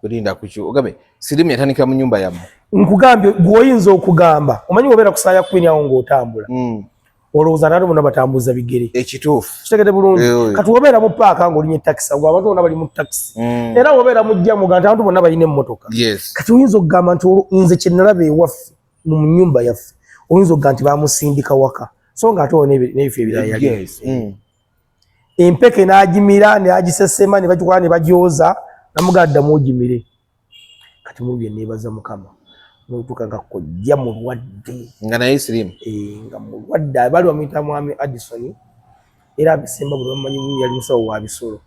Kulinda kuki ogabe sirimu yatandika mu nyumba yamu. Nkugambye gwoyinza okugamba omanyi wobera kusaya kwini awo ng'otambula mm. olowooza nali bona batambuza bigere ekituufu kitegede bulungi eh, kati wobeera mu paaka ng'olinye takisi agwo abantu bona bali mu takisi mm. era wobeera mujjamuga nti abantu bona balina emmotoka yes. kati oyinza okugamba nti nze kyenalaba ewaffe mu nyumba yaffe oyinza okugamba nti bamusindika waka so ng'ate wo n'ebifo ebirala yes. mm. empeke n'agimira n'agisesema ne bagikola ne bagyoza namugamba ddamu ogimire kati mu bye neebaza mukama notuuka nga kojja mulwadde nga naye sirimu eh, nga mulwadde abali bamuyita mwami addison era abisemba buli bamanyi yali musawo wa bisolo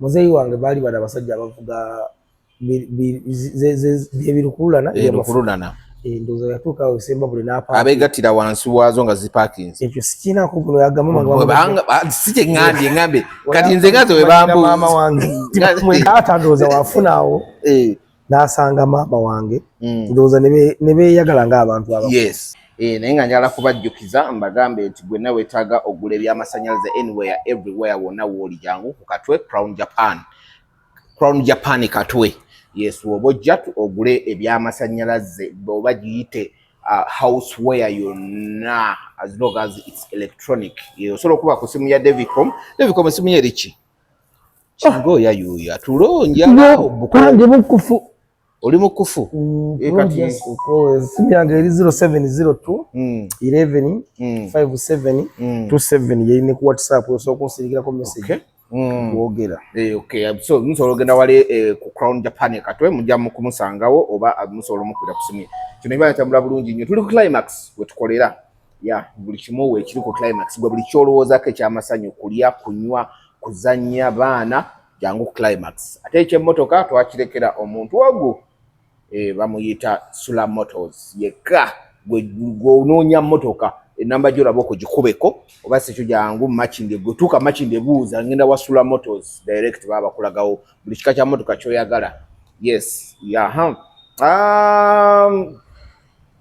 muzeeyi wange baali bana abasajja abavuga byebirukululana byebirukululana endowooza yatuuka awo esemba buli abeegattira wansi waazo nga zipakinze ekyo sikiinaku guno yagambasi kyeŋambye ŋambye kati nze ngaze webambumaama wange taata ndowooza wafuna awo eh. n'asanga maama wange hmm. ndowooza ne beeyagala ng'abantu aba eh, naye nga njala kubajjukiza mbagambe nti gwe nawe wetaaga okugula ebyamasannyalaze anywhere everywhere wonna wooli jangu ku katwe crown japan Crown Japan Katwe yes woba ojja ogule ebyamasanyalaze oba giyite uh, house where yonna as long as its electronic osobola okuba ku simu ya devicom devicom esimu yeriki kingoya yuyo atulonja ndi mukufu Oli mukufu. Mm, e kati simyange eri 0702 mm. 11 mm. 57 mm. 27 yeri ne ku WhatsApp osobola kunsirikirako message. Okay. Mm. Kuogera. Eh, okay. So, musobola ogenda wali eh, ku Crown Japan e katwe mujja kumusangawo oba ah, musobola omukwira ku simu. Kino ibala tambula bulungi nnyo. Tuli ku climax we tukolera. Ya, buli kimu we kiri ku climax. Gwe buli kyolowooza ke kya masanyu kulya, kunywa, kuzannya baana. jangu ku climax ate ekyemotoka twakirekera omuntu ogu eh, bamuyita sula motors yekka gweonoonya motoka enamba gyolaba okugikubeko oba sikyo jangu makinde gwetuuka makinde buuza ngenda wa sula motors direct baba bakulagawo buli kika kya motoka kyoyagala yes yaha um,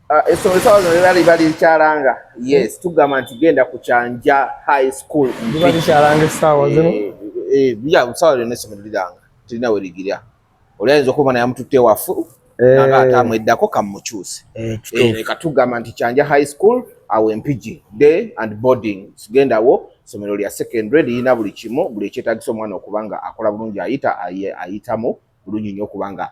Ah, essomero eh, sawa zino liba liba likyalanga yes tugamba nti genda ku kyanja high school liba likyalanga essaawa eh, zino eh, ya sawa lyonna essomero liranga tirina we ligirya oli ayinza okuba naye amututte wafu nanga ate amweddako kamukyuse leka tugamba nti kyanja high school awo empigi day and boarding sigendawo essomero lya secondary lirina buli kimu buli ekyetagisa omwana okuba nga akola bulungi ayita ayitamu bulungi nnyo okuba nga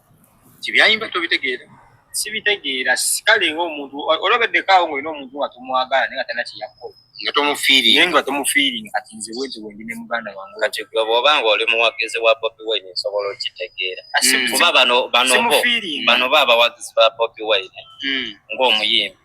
kyebyayimba tobitegeera sibitegeera kale nga omuntu olobeddeko awo ngaolina omuntu nga tomwagala naye nga talina kyeyakola nga tomufiiri naye nga tomufiiri kati nze wenti wendi ne muganda wange kati gwe bwoba nga oli muwagizi wa bobi wine nsobola okitegeera hmm. kuba bano bano bano ba abawagizi ba bobi wine hmm. ng'omuyimbi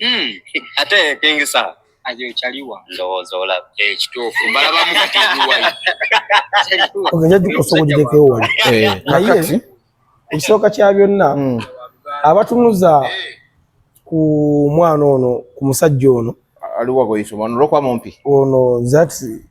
Hmm. ate kingi saa ajochaliwa ndowooza olaba ekituufu eh, mbalabamu kati ebiwayi ogenda gikosogogirekewo wali eh, naye ekisooka kya byonna hmm. abatunuza eh. ku mwana ono ku musajja ono aliwagoyisa omwana olwokuba mumpi ono zati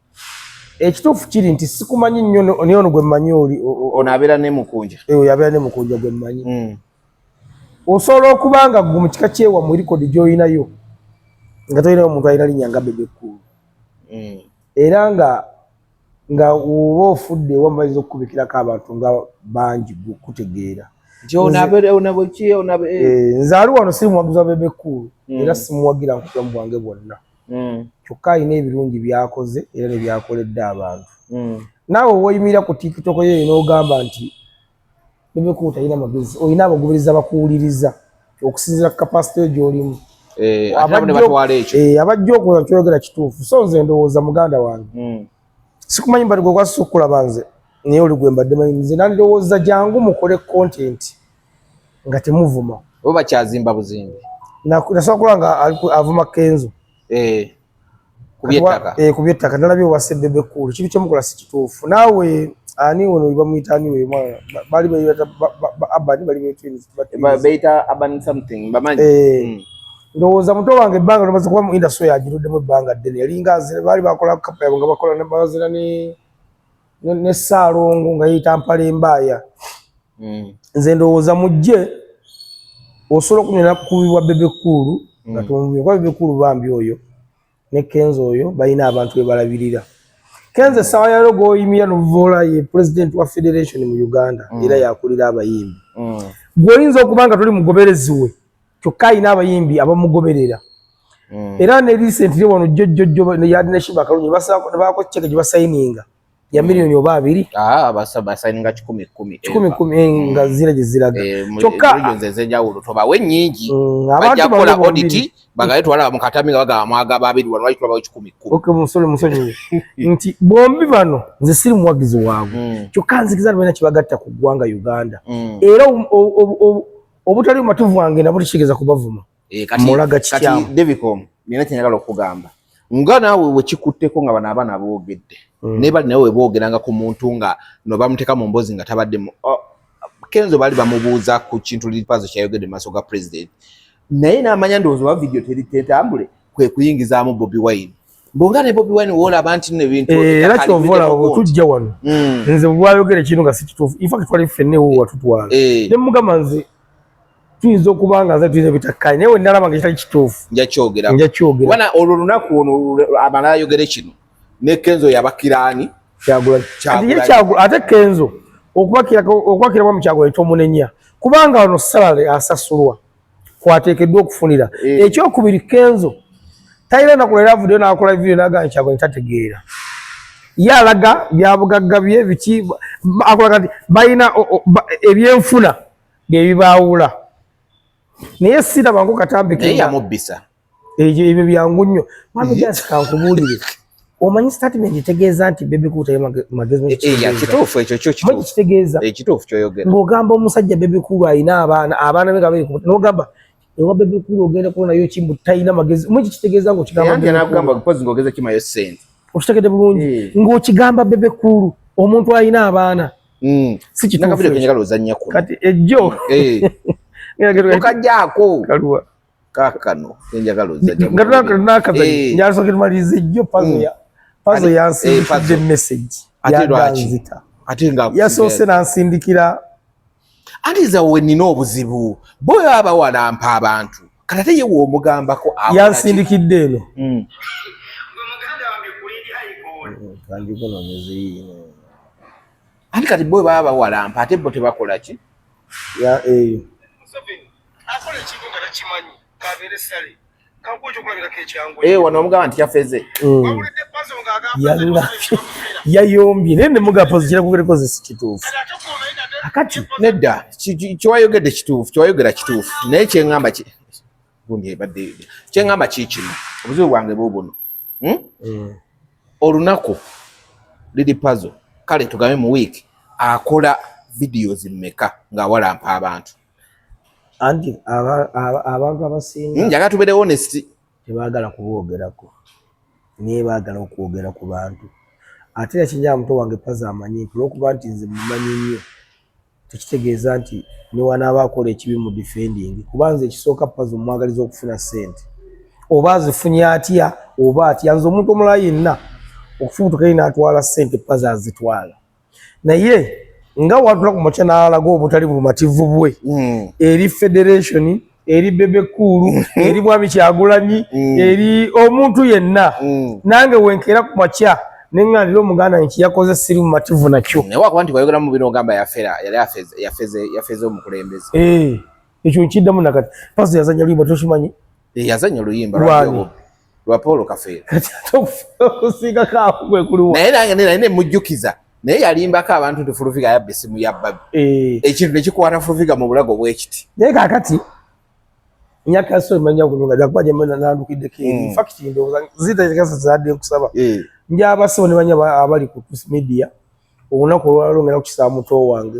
ekituufu kiri nti sikumanyi nnyo naye ono gwe mmanyi oli ono abeera ne mukunja eh, oyo abeera ne mukunja gwe mmanyi hmm. osobola okuba nga gwe mu kika kyewamu likodi gy'olinayo nga tolinayo omuntu alina linnya nga bebe kuulu hmm. era nga nga oba ofudde ewamu bayinza okukubikirako abantu nga bangi kutegeera eh, eh, nze ali wano siri muwagizi wa bebe kuulu hmm. era simuwagira nkutulamu bwange bwonna mm. kyokka alina ebirungi byakoze era ne byakoledde abantu mm. naawe woyimira ku tiktok yeyo n'ogamba nti bebekuba talina magezi olina abagubiriza bakuwuliriza okusinzira ku kapasite yo gyolimu eh, eh, abajja okuza kyoyogera kituufu so nze ndowooza muganda wange mm. sikumanyi mbadde gwe gwasisa okulaba nze naye oli gwe mbadde manyi nze nandirowooza jangu mukole kontenti nga temuvuma oba bakyazimba buzimbi nasobola kuba nga avuma kenzo eh, eh, ku byettaka nalabye owa sebebe kuulu kibi kyemukola si kituufu naawe ani ono bamuyita ani we mwana bali bayita abani bali beyita abani something bamanyi eh, hmm. ndowooza muto wange ebbanga nomaze kuba mu industry yagiruddemu ebbanga ddene yalinga baali bakola kapa yabwe nga bakola bazira ne ne saalongo nga yeyita mpala embaaya hmm. nze ndowooza mujje osobola okunyona kukubibwa bebekuulu nga hmm. tumubye kuba bebekuulu bambi oyo ne kenzo oyo balina abantu bebalabirira kenzo essaawa yalo gwoyimira nuvoola ye pulezidenti wa federation mu uganda hmm. era yakulira abayimbi gwoyinza okuba nga toli mugoberezi we kyokka alina abayimbi abamugoberera mm. era ne recently wano jjojjojjo yali ne shiba kalungi baako ceke gye basayininga ya mm. miliyoni oba abiri ah, basayininga kikumi kumi kikumi kumi eh, mm. nga zira gye ziraga eh, kyokka ezenjawulo tobawe nnyingi bajja kukola oditi bagaye twala mu katami nga bagaba mwaga babiri wano wali tulabawo kikumi kumi okay musole musonyiwe nti bombi bano nze siri muwagizi waabwe kyokka nzikiza balina kye bagatta ku ggwanga uganda era obutali mumatuvu wange nabo tukigeeza kubavuma eh, mulaga kityamu devicom nina kyenagala okugamba nga naawe wekikutteko nga bano abaana boogedde hmm. naye bali nawe weboogeranga ku muntu nga no bamuteeka mu mbozi nga tabadde oh, kenzo baali bamubuuza ku kintu lipazo kyayogedde mu maaso ga pulezidenti naye n'amanya ndowooza oba vidiyo teritentambule kwe kuyingizaamu bobi wine bonga ne bobi wine wola abantu ne bintu eh, era kyovola obutujja wano mm. nze bwayogere kino nga sikitufu in fact twali fenne wo watutwala eh. ne mugamba nze tuyinza okuba nga nze tuyinza bitakkaanye naye wenalaba nga kitali kituufu njakyogera njakyogera wana olwo lunaku ono amala ayogere kino ne kenzo yabakiraani ate kenzo okubakiramu kyagula tomunenya kubanga ono salale asasulwa kwateekeddwa okufunira eh. ekyokubiri kenzo talina naku leero avuddeyo n'akola vidiyo n'agamba nti kyagulanyi tategeera ye alaga byabugagga bye biki akulaga nti balina ebyenfuna bye bibaawula naye sirabangu katambikeyamubbisa Ejo ebyo byangu nnyo. Mami just kankubuulire. Omanyi statement etegeeza nti bebe cool tayo magezi mwe. Eh, eh, kituufu ekyo kyo kituufu. Mwe kitegeeza. Eh, kituufu kyoyogera. Ng'ogamba omusajja bebe cool alina abaana abaana be kabiri ku n'ogamba ewa bebe cool ogenda kuona yo kimbu talina magezi. Mwe kitegeeza ngo kigamba. Yandi anagamba kupozi ngogeza kima yo sente. Okitegede bulungi. Ngo kigamba bebe cool omuntu alina abaana. Mm. Si kituufu. Nakabiri kwenye kalo zanya kuna. Kati ejo. Eh. Ngakajako. Kalua. kakano enjagala ozanakazanyo eh. nyasoke tumalize jjo pazo mm. ya pazo eh, yansindikidde message yaganzita yasoose nansindikira anti zawe nina obuzibu boyo aba walampa abantu kati ate yewe omugambako yansindikidde eno mm. anti kati boyo baba bawalampa ate bo tebakolaki eyo akola ekintu nga takimanyi kabeere sale eh, wano omugamba nti yafeze hmm. yayombye naye nemugapozi kirakugerekoze si kituufu akati nedda kyewayogedde kituufu kyewayogera kituufu naye kyeŋamba gundibadde kyeŋamba kiikino obuzibu bwange bubuno hmm? hmm. olunaku liri pazo kale tugambe mu wiiki akola videos mmeka ng'awalampa abantu anti abantu abasinga hmm, njagala tubeere honest tebagala kubwogerako naye bagala okwogera ku bantu ate nakinjaa muto wange paza amanyi nti olwokuba nti nze mumanyi nnyo tekitegeeza nti newanaaba akola ekibi mu defending kuba nze ekisooka paza omwagaliza okufuna sente oba azifunye atya oba atya nze omuntu omulala yenna okufubutukayo natwala sente paza azitwala naye nga watula ku makya n'alaga obutali bumativu bwe hmm. eri federation eri bebe kuulu hmm. eri bwami kyagulanyi hmm. eri omuntu yenna nange wenkeera ku makya neŋŋanira omuganda nti yakoze siri mumativu nakyo naye wakuba nti wayogeramu bino ogamba yafera yali yafeze omukulembeze eh, ekyo nkiddamu nakati paso yazanya luyimba tokimanyi Eh, yazanya oluyimba lwa Paul Kafeero okusingako awo kwe kuliwa naye nange naye ne mujjukiza naye yalimbako abantu nti Fuluviga yabba essimu ya bbabi eh. ekintu ne kikwata Fuluviga mu bulago bwekiti naye kakati nyaka so manya kulunga za kwaje mwana nandukide ke mm. fact ndo zita zikasa zade kusaba eh. njaba so ne banya abali ku media unakolwa longera kukisamu to wange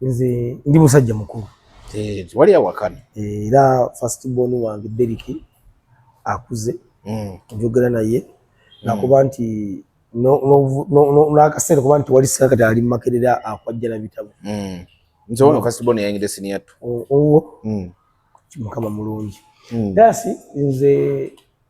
nze ndi musajja mukulu eh, wali awakana eh, era first born wange Derrick akuze mm. njogera naye mm. nakuba nti n'akaseera kuba nti wali sika kati ali mumakerera akwajjala bitabo mm. nze wano first born yayingidde siniya tu owo mukama mulungi dasi nze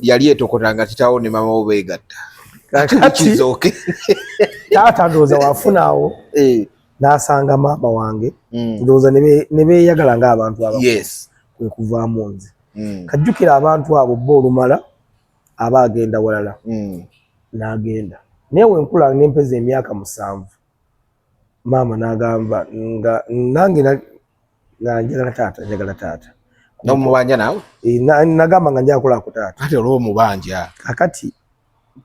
yali etokota nga kitaawo ne maama wo beegatta kakati taata ndowooza wafunaawo eh. n'asanga maama wange mm. ndowooza ne beeyagala ng'abantu aba kwe kuvaamu nze mm. kajjukira abantu abo bo olumala aba agenda walala mm. n'agenda naye wenkula nempeza emyaka musanvu maama n'agamba nga nange nga njagala taata njagala taata nomubanja nawe eh, nagamba nga njagala kulaku taata kati olwo omubanja kakati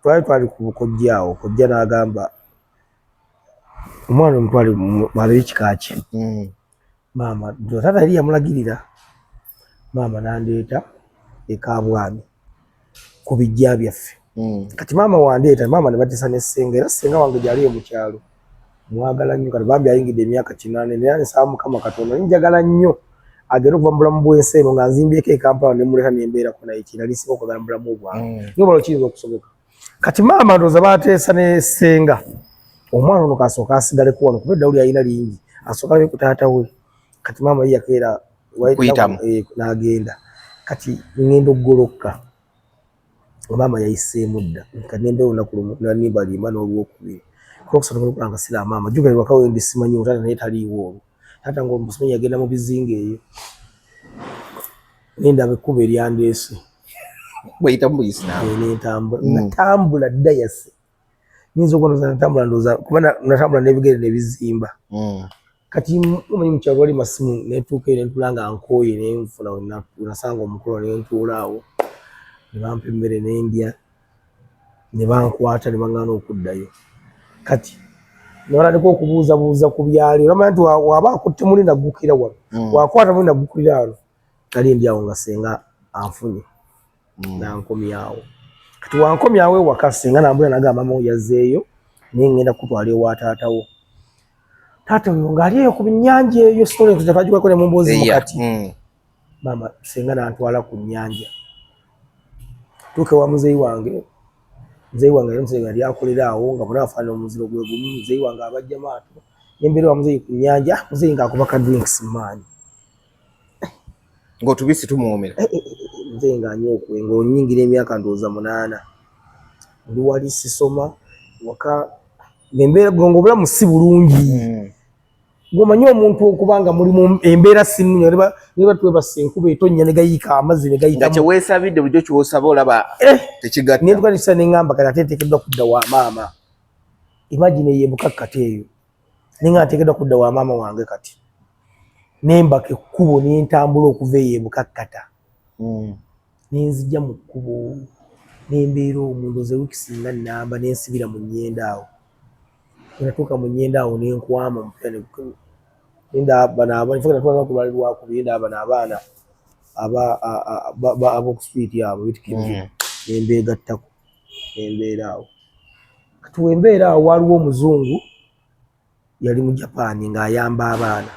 twali twali ku bukojja awo kojja n'agamba omwana omutwale mwabeyo kika ki hmm. maama nze taata yali yamulagirira maama nandeeta ekabwami ku bijja byaffe hmm. kati maama wandeeta maama ne batisa ne ssenga era ssenga wange gyali e mukyalo mwagala nnyo kati bambi ayingidde emyaka kinaana naye nsaba mukama katonda ninjagala nnyo agenda okuva mu bulamu bw'ensi eno nga nzimbyeko ekampala ne muleeta ne mbeerako naye kinali siba okwagala mu bulamu bwange hmm. niyo bala okiyinza okusoboka kati maama ndoza batesa ne senga omwana ono kasoka asigale ku wano kubedda uli ayina lingi asoka ne kutata we kati maama yiya kera waita eh, na agenda kati ngendo goloka maama yayise mudda kati ngendo ona kulumu na nimba lima no ruwo kubi kwa kusatu kwa kulanga sila maama juga ni wakawe ndi simanyi utata na yeta liwo tata ngo mbusimanyi agenda mu bizinge yo ninda bekuba eliandesi bweyita mubuyisinaamutambula mm. natambula dayasi nyinza okuba natambula ndoza kuba natambula nebigere nebizimba mm. kati omanyi mukyalo wali masimu netuuka eyo nentula nga nkooye nenfuna nasanga omukolo nentuula awo nebampa emmere nendya nebankwata nebaŋana okuddayo kati nabalandika okubuuzabuuza ku byali olamanya nti waba akutte muli naggukira wano mm. wakwata muli naggukulira wano Nali ndi awo nga senga anfunye mm. nankomyawo kati wankomyawo ewaka senga nambula nagamba mamu yazeeyo naye ngenda kutwala ewa taata wo taata oyo ngaali eyo ku binyanja eyo sitolentekagikweko ne mumbuuzi mukati mm. maama senga nantwala ku nyanja tuuka ewa muzeeyi wange muzeeyi wange yali musajja yali akolera awo nga bona afaanana omuziro gwe gumu muzeeyi wange abajja maato nembeera wa muzeeyi ku nyanja muzeeyi ngaakuba ka drinks maanyi ng'otubisi tumuwomera eh, eh, eh, nze nga nyokwe ng'onyingira emyaka ndowooza munaana ndi wali sisoma waka ngembeera gonga obulamu si bulungi hmm. gomanye omuntu okuba nga muli mu embeera sinnunyo neba twebasa enkuba etonnya ne gayiika amazzi ne gayita nga kyeweesabidde bulijjo kyosaba olaba tekigatta naye tukanisa ne ŋamba kati ate nteekeddwa kudda wa maama imagine ye bukakkate eyo ninga ntekedwa kudda wa maama wange kati nembaka ekkubo nentambula okuva eyo ebukakkata hmm. nenzija mu kkubo nembeera omuntu ze wiiki singa namba nensibira mu nyenda awo natuuka mu nyenda awo nenkwama mupnendabanaabanfnatwalakubalirwakubyendabana abaana abokustwiti abo bitkimye hmm. nembeegattako embeera awo kati wembeera awo waliwo omuzungu yali mu japan ng'ayamba abaana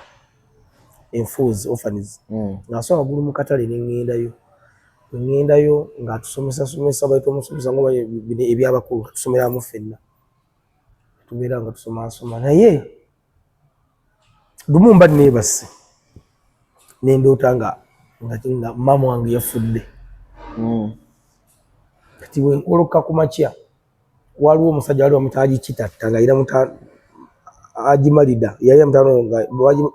enfuuzi ofaniz hmm. ng'asoa wagulu mu katale neŋŋendayo neŋŋendayo ng'atusomesa somesa baita omusomesa nga ebyabakulu atusomeramu ffenna tubeera nga tusomasoma naye lumu mba neebase nendoota nga nga maama wange yafudde hmm. kati wenkoloka ku makya waliwo omusajja wali bamuta agikitatta nga ira muta agimalida yali amutano nga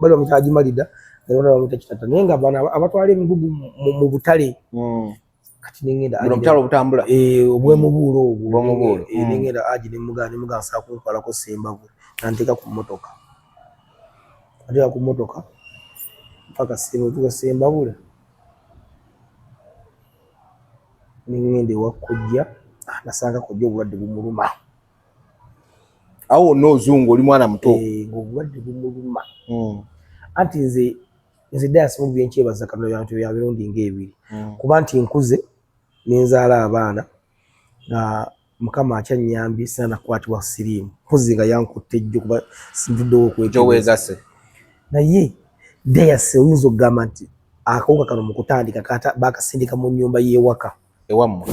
bali bamuta agimalida nga bamuta kitatta naye nga bana abatwala emigugu mu butale hmm. kati nengenda buno butalo butambula eh obwemubuulo mm. obwo obwemubuulo eh, mm. nengenda aji ne mugana ne mugana sa kunkwala ko semba ku nanteka ku motoka ati ku motoka paka sebo tuka semba bula nengende wakujja ah, nasanga ko jo bulade bumuluma awo no zungu oli mwana muto eh obulade bumuluma mm. anti nze Nze Dias Mugbi nkyebaza Katonda bya bintu bya mirundi ng'ebiri mm. kuba nti nkuze ne nzaala abaana nga mukama akyannyambye sina nakukwatibwa siriimu mpozi nga yankutte jjo kuba nvuddewo okwejoweegase naye Dias oyinza okugamba nti akawuka kano mu kutandika baakasindika mu nnyumba y'ewaka ewammwe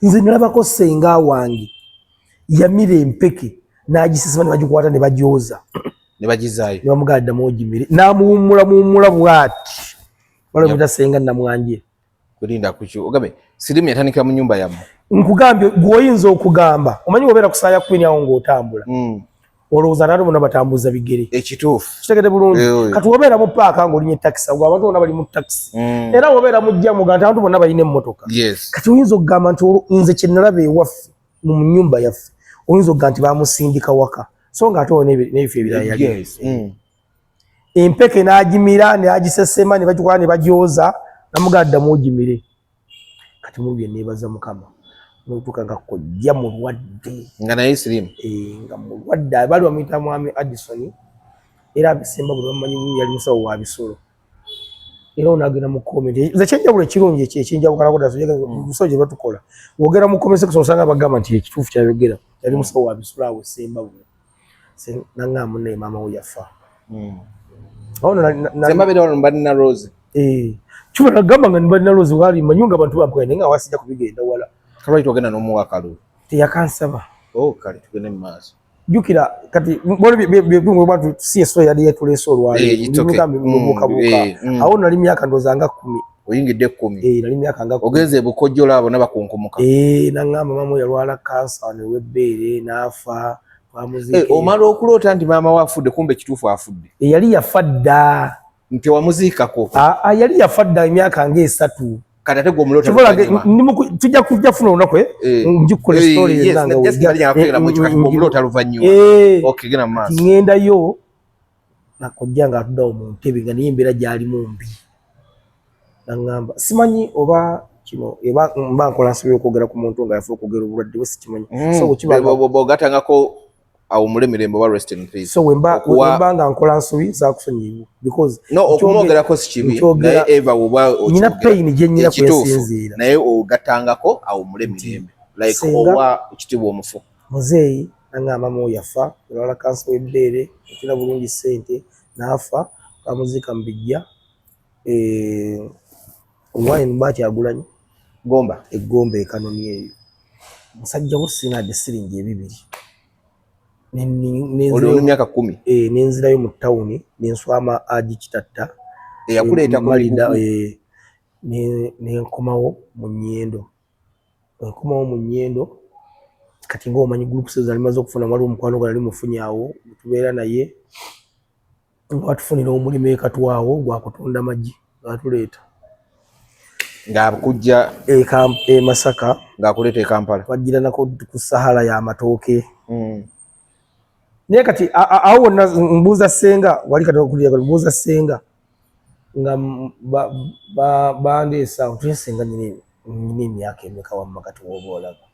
nze nalabako senga wange yamira empeke n'agisesema ne bagikwata ne bagyoza ne bagizaayo ne bamugala ddamu ogimire n'amuwummula muwummula bw'ati waliwo muta senga namwanje kulinda kuki ogambe sirimu yatandikira mu nyumba yammwe nkugambye gw'oyinza okugamba omanyi obeera kusaaya kwini awo ng'otambula mm. olowooza naali bona batambuza bigere ekituufu kitegede bulungi eh, oh, eh. kati wobeera mu paaka ngaolinye takisi agwe abantu bona bali mu takisi mm. era wobeera mujjamu nga nti abantu bona balina emmotoka kati oyinza okugamba nti nze kyenalaba ewaffe mu nyumba yaffe oyinza okugamba nti bamusindika waka so nga ate nebifo ebirala yali eh. mm. empeke n'agimira neagisesema ne bagikola ne bagyoza namugaa ddamu ogimire kati mu bye nebaza mukama notuka nga kojja mulwadde nga naye sirimu eh, nga mulwadde abali bamuyita mwami Addison era abisemba buli bamanyi yali musawo wa bisolo era onagenda mu komenti nze kyenjawulo ekirungi ekyo ekyenjawukanako dda tujaga mm. musawo gye batukola wogera mu komenti section osanga abagamba nti ekituufu kyayogera yali musawo wa bisolo awo esemba buli nangamba munne maama wo yafa hmm. mbalina rose eh, kiba nagamba nga nibalina rose wali manyi nga abantu bampukanye naye nga wasija kubigenda wala kalwaki twagenda n'omuwa kalulu teyakansaba oh, kale tugende mu maaso jukira kati bwebatu si eswa yali yatuleese olwaleero eh, mm, eh, mm. awo nali myaka ndooza nga kumi oyingidde ekkumi eh, nali myaka nga ogenze ebukojjola abo nabakunkumuka eh, naŋamba maama yalwala kansa newebbeere n'afa eh, omala okuloota nti maama we afudde kumba ekituufu afudde yali yafa dda ntewamuziikako ah, ah, yali yafa dda emyaka ngaesatu tujja kujja funa olunaku eh? eh. njikkola esitoolingendayo nakojja nga atuda mu ntebe nga naye embeera gyali mu mbi nangamba simanyi oba kino eba mba nkola nsobola okwogera ku muntu nga yafa okwogera obulwadde bwe sikimanyi mm. so bwekibagatangako awumule mirembe oba rest in peace so wemba wemba nga nkola nsobi zakusonyiwa because no okumwogerako si kibi naye eva oba nyina pain gye nyina kwesinziira naye ogatangako awumule mirembe like owa kitibwa omufu Muzeeyi nangamba mu yafa nalwala kansa w'ebbeere yatunda bulungi ssente n'afa baamuziika mu biggya e Omuwaaya mu bba Kyagulanyi Gomba e Gomba e Kanomi eyo musajja wo sinaadde siringi ebibiri myaka kumi eh, nenzirayo mu tawuni nenswama agi kitatta eyakuleeta eh, kumalida eh, nenkomawo mu nyendo Nkomawo mu Nyendo kati nga omanyi groups ezo alimaze okufuna waliwo omukwano gwe nali mufunye awo tubeera naye nga watufunira omulimu ekatwa awo gwa kutunda magi ngatuleeta ngakujja e, e Masaka ngakuleeta e Kampala twajjira nako ku sahala ya matooke mm. naye kati awo wonna mbuuza senga wali kati okulira mbuuza senga nga bandeese awo tuye senga nyina emyaka emeka wamma kati woba olaba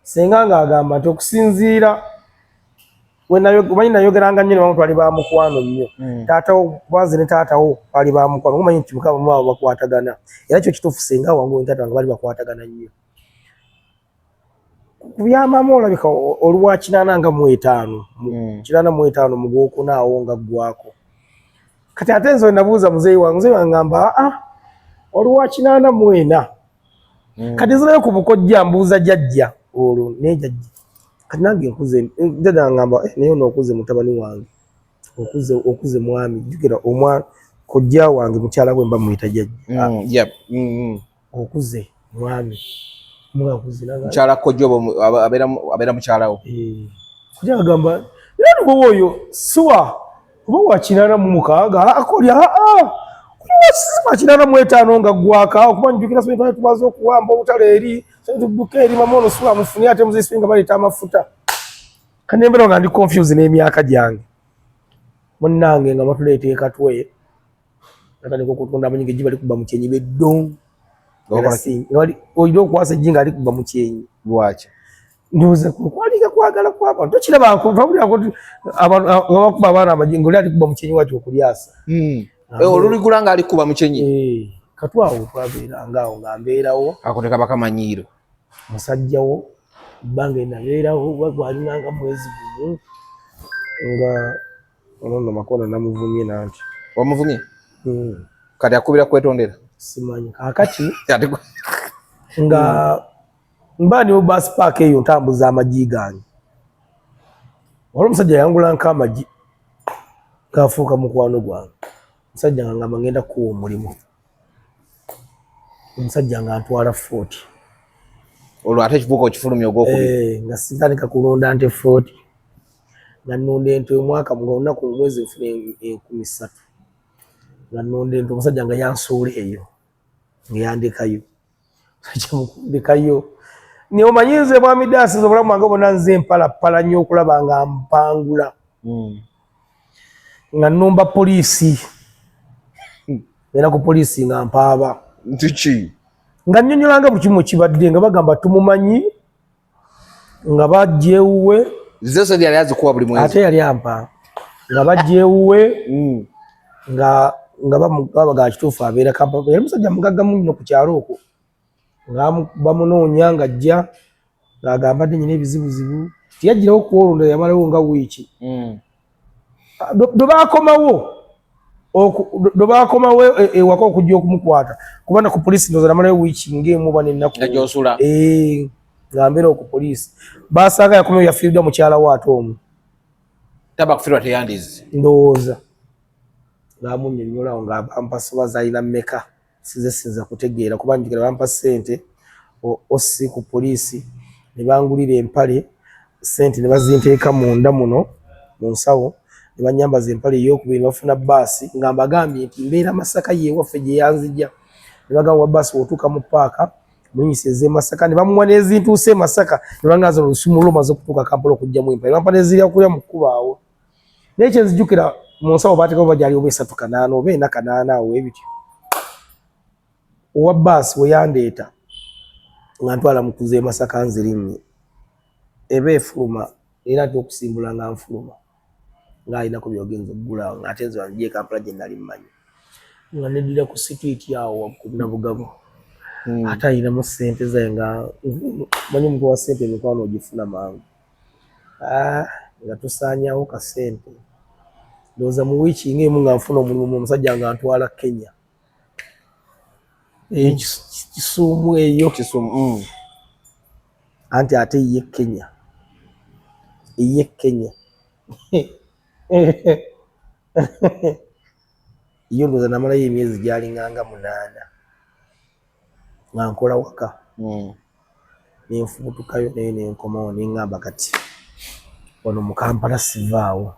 senga ng'agamba nti okusinziira omanyi nayogeranga nnyo nebamu twali ba mukwano nnyo hmm. taatawo banze ne taatawo bali ba mukwano omanyi nti mukama mwabo bakwatagana era kyo kituufu senga wangu ntaata wange bali bakwatagana nnyo ku byamaama olabika olwa kinaana nga mu etaano hmm. kinaana mu etaano mu gwokuna awo nga ggwako kati ate nze nabuuza muzeeyi wange muzeeyi wange ngamba aa ah, ah, olwa kinaana mu ena hmm. kati nzirayo ku bukojja mbuuza jajja olwo naye jajja kati nange nkuze jajja ngamba eh, naye onookuze mutabani wange okuze okuze mwami jjukira omwana kojja wange mukyala gwe mba muyita jajja hmm, okuze mwami mukyala kojja abeera mukyalawo eh, kuja agamba era nuboba oyo siwa oba wakinana mu mukaaga akolya wakinana mu etaano nga gwaka okuba njukira sente tumaze okuwamba obutale eri sente tudduka eri mama ono siwa mufuni ate muzisibe nga baleeta amafuta kanyembera nga ndi confuse n'emyaka gyange munnange nga batuleeta ekatwe natandika okutunda amanyinga ejji balikuba mu kyenyi beddong olina okwasa ejji nga alikuba mu kyenyi lwaki ndowoza kwaliga kwagala kwabantu tokiraba nkuabakuba abaana amajinga oli alikuba mu kyenyi wati okulyasa hmm. eh, oluligula nga alikuba mu kyenyi eh, katwawo twabeera ngaawo nga mbeerawo akuteka bakamanyiiro musajjawo bbanga enabeerawo bagwalinanga mwezi gumu nga Ono no makono namuvumye nanti. Wamuvumye? Mm. Kati akubira kwetondera. Simanyi. Akati. nga mm. mba ni bus park eyo ntambuza amaji gange. Wali musajja yangula nka amaji. Kafuuka mukwano gwange. Musajja nga ngamba ngenda kuwa omulimu. omusajja nga ntwala footi olwo ate ekivuuka okifulumya ogwokubiri eh, nga sitandika kulunda nte footi nga nnunda ente omwaka nga olunaku omwezi nfuna enkumi ssatu nga nnunda ente omusajja nga yansuula eyo nga yandekayo kyemukundikayo naye omanyi nze mwami daasi nze obulamu bwange bona nze mpalapala nnyo okulaba nga mpangula hmm. nga numba poliisi era ku poliisi nga mpaaba ntiki nga nnyonyolanga buli kimu ekibadde nga bagamba tumumanyi nga bajja ewuwe zose yali azikuwa buli mwezi ate yali ampa nga bajja ewuwe mm. nga nga bamugabaga kituufu abeera kampala yali musajja mugagga mungi no ku kyalo okwo nga bamunoonya nga ajja ng'agamba dde nyina ebizibuzibu tiyajjirawo kuolonda yamalawo nga wiiki mm. bwe bakomawo bwe bakomawo e, ewaka okujja okumukwata kuba na ku poliisi ndoza namalayo wiiki ngaemu oba nenaku eh, nga mbeera oku poliisi basanga yakomayo yafiiriddwa mukyala wo ate omu taba kufirwa teyandizi ndowooza ngaamunyonyola awo ngaampasobaza alina meka size sinza kutegeera kuba njigala bampa sente osi ku poliisi ne bangulira empale sente ne bazinteeka munda muno mu nsawo ne banyambaza empale eyokubiri ne bafuna baasi nga mbagambye nti mbeera masaka yewaffe gye yanzija ne bagamba wa baasi wotuuka mu paaka mulinyisa eze masaka ne bamuwa n'ezintuuse e masaka ne bangaza olusumu lumaze okutuuka kampala okugjamu empale bampa nezirya kulya mu kkubaawo naye kyenzijukira mu nsawo baatekawo bajali oba esatu kanaana oba ena kanaana awo ebityo owa baasi weyandeeta nga ntwala mukuza emasaka nzirinye eba efuluma era ate okusimbula nga nfuluma nga alinako byogenza okugula nga ate nze wanjie kampala gye nali mmanyi nga nedira ku situiti awo wakuna bugabo hmm. ate alinamu sente zaye nga manyi omuntu wa sente emikwano ogifuna mangu ah, nga tusaanyawo kasente ndowooza mu wiiki nga emu nga nfuna omulimu mu omusajja nga ntwala kenya eh, hmm. kisuumu eyo hmm. anti ate ye kenya eye kenya yo ndowooza namalayo emyezi gyalinganga munaana nga nkola waka mm. nenfubutukayo naye nenkomawo nengamba kati wano mukampala sivaawo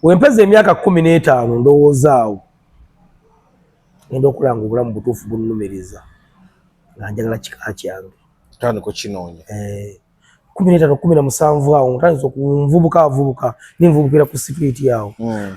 wempeza emyaka kumi n'etaano ndowoozaawo enda okola nga obulamu butuufu bunumiriza nga njagala kika kyange tandika okinoonya eh, kumi n'etaano kumi na musanvu awo ntandisa okunvubuka avubuka nenvubukira ku situiti awo mm.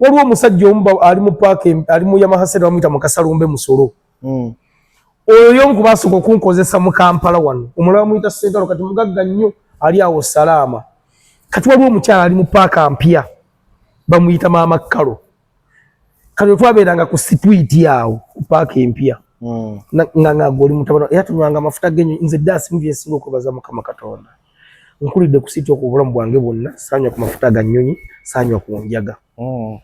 waliwo omusajja omu ali mu paaka ali mu yamaha sente bamuyita mukasalumbe musolo hmm. oyo yomu kubasooka okunkozesa mu kampala wano omulala bamuyita sentalo kati mugagga nnyo ali awo salaama kati waliwo omukyala ali mu paaka mpya bamuyita maama kalo kati otwabeeranga ku sitwiti awo ku paaka empya hmm. nga ngagoli mutabana era tunywanga amafuta genyo nze dasi muvyensinga okwebaza mukama katonda nkulidde ku sitooka obulamu bwange bwonna saanywa ku mafuta ga nnyonyi saanywa ku njaga hmm.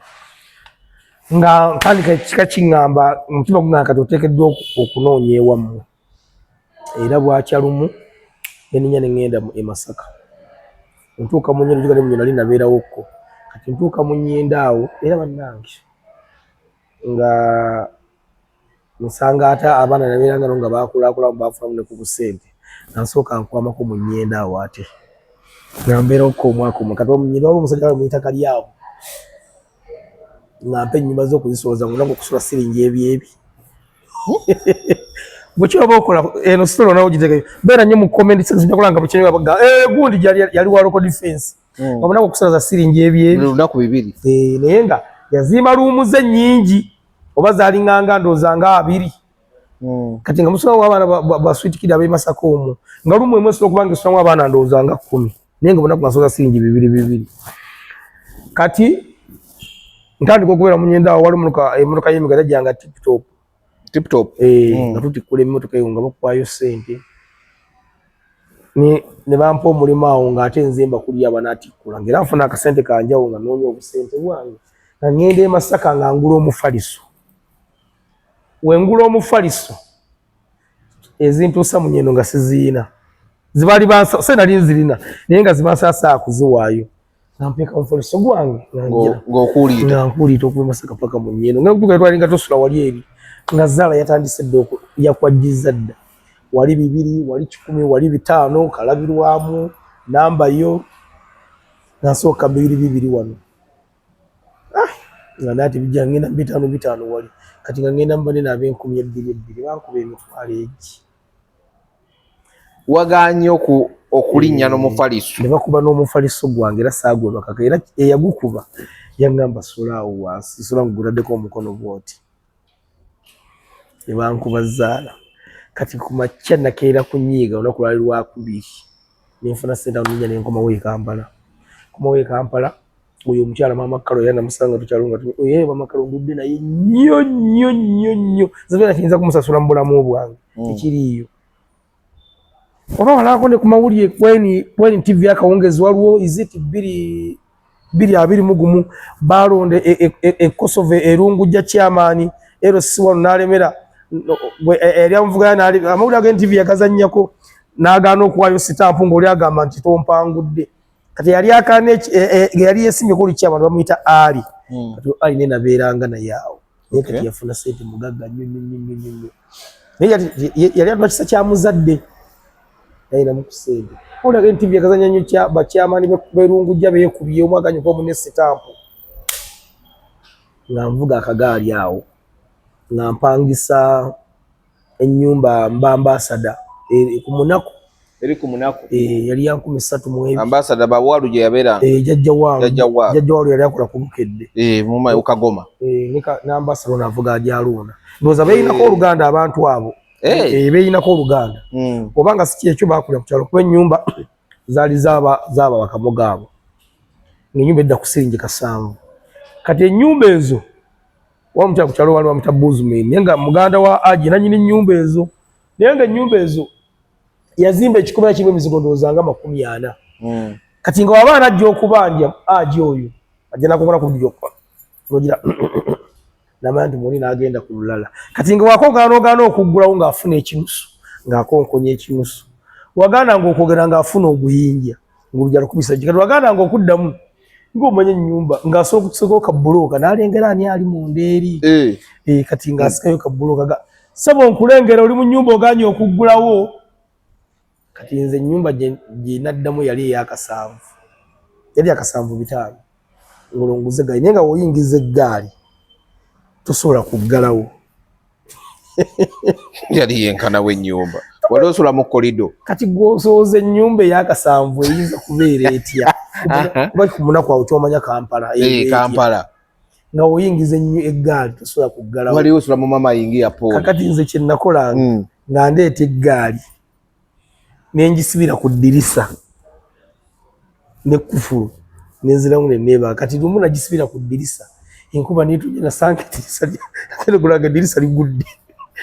nga ntandika kika kiŋŋamba omutima gungana kati oteekeddwa okunoonya ewammwe era bwakya lumu neninya ne ŋŋenda e masaka ntuuka mu nyinda juga ne munyo nali nabeerawokko kati ntuuka mu nyinda awo era bannange nga nsanga ate abaana nabeeranga no nga baakulaakulamu baafunamu ne ku busente nansooka nkwamako mu nnyenda awo ate nga mbeera okka omwaka omu kati omunyina waba omusajja waba muyita kalyawo nga mpa ennyumba z'okuzisooza nga olanga okusula siringi ebyebi bwekyaba okola eno sitolo nawe ogiteke beera nnyo mu comments nzija kulanga bwekyaba eh, gundi yali wa local defense mm. omunaku okusaza siringi ebyolunaku bibiri eh, naye nga yazimba luumuze nyingi oba zalinganga ndooza nga abiri mm. kati nga musulamu abaana baswitikidi abemasaka omu nga lumu emu esobola okubanga esulamu abaana ndooza nga kumi naye nga omunaku nasoza siringi bibiri bibiri kati ntandika okubeera munyenda awo wali emotoka yemigata gyange tiptop tip top eh mm. natuti kule mmoto kayo ngabo kwa yo sente ni ne bampa omulimo awo nga ate nzimba kuli aba nati kula ngira afuna ka sente ka njawo nga nonyo obusente bwange na ngende masaka nga ngulo omufaliso we ngulo omufaliso ezintu samu nyeno nga sizina zibali bansa sena linzilina nenga zibansa saa kuziwayo nampeka omufaliso gwange ng'okuuliita nkuuliita okuva masaka paka mu nnyendo nga kutuka twali nga tosula wali eri nga zaala yatandise dda yakwajjiza dda wali bibiri wali kikumi wali bitaano kalabirwamu namba yo nasooka bibiri bibiri wano ah, nga nati bijja ngenda bitaano bitaano wali kati nga ngenda mbane naabenkumi ebbiri ebbiri bankuba emitwalo egi wagaanye oku okulinnya n'omufaliso ne bakuba n'omufaliso gwange era saagwebakako era eyagukuba yaŋŋamba sula awo wansi sula nguguladdeko omukono bwoti ne bankuba zaala kati ku makya nakeera kunyiiga olunaku lwali lwakubiri ne nfuna sente awo ninnya ne nkomawo e kampala nkomawo e kampala oyo omukyala maama kalo era namusanga tukyalo nga oye maama kalo ngudde naye nnyo nnyo nnyo nnyo zibera kiyinza kumusasula mu bulamu bwange hmm. tekiriiyo oba walaako ne ku mawulire kweni tv akawungezi waliwo iziti bbiri bbiri abiri mu gumu baalonda ekosova e, e, e, erungujja kyamaani ero si wano n'alemera yali amuvugaya amawulire ag'entivi yagazannyako n'agaana okuwaayo sitampu ng'oli agamba nti tompangudde kati yali akane e, e, yali yesimye kuli kya abantu bamuyita ali hmm. kati ali nena beranga na yao ye kati yafuna sente mugagga nyo nyo nyo nyo nyo naye yali atuma kisa kya muzadde naye namukusende ona ke ntivi yakazanya nyo kya bakyamani berungu jja beyekubiye omwaka nyo kwa mune sitampo nga nvuga akagaali awo nga mpangisa ennyumba mba ambasada e, ku munaku eri ku munaku eh, yali yankumi satu mwebi ambasada bawalu gye yabeeranga eh, jajja walu jajja walu yali akola ku bukedde eh, ukagoma n'ambasada ono avuga ajaluuna ndowooza beeyinako oluganda abantu abo beeyinako oluganda hmm. obanga si kyekyo baakulira ku kyalo kuba ennyumba zaali zaaba bakamoga abo ng'ennyumba edda ku siringi kasanvu kati ennyumba ezo wamukyala kukyalo wali wamuta buzmin naye nga muganda wa aji nanyini nyumba ezo naye nga enyumba ezo yazimba ekikomera kimu emizigo ndowooza nga makumi ana hmm. kati nga waba anajja okubanja aji oyo ajja nakukola kujjokka nogira namanya nti muli nagenda ku lulala kati nga wakogaana ogaana okuggulawo ngaafuna ekinusu ngaakonkonya ekinusu wagaana nga okwogera ngaafuna oguyinja ngobjalukubisa kati wagaana nga okuddamu ng'omanya ennyumba ng'asobola okutusako kabbulooka n'alengera ani ali mu ndeeri eh. eh, kati ng'asikayo kabbulooka ga sebo nkulengera oli mu nnyumba oganye okuggulawo kati nze ennyumba gye naddamu yali eyakasanvu yali akasanvu bitaano ng'olonguza eggaali naye nga woyingiza eggaali tosobola kuggalawo yali yenkana w'ennyumba wali osula mu kolido kati gwosooza ennyumba eyakasanvu eyinza kubeera etya kuba ku munaku awo kyomanya kampala eh, kampala nga oyingiza ennyo eggaali tosobola kuggalawo wali osula mu mama yingi ya poli kakati nze kye nakolanga hmm. nga ndeeta eggaali ne ngisibira ku ddirisa ne kufulu ne nziramu ne neeba kati lumu nagisibira ku ddirisa enkuba neetonnya nasanga eddirisa lya gulaga eddirisa ligudde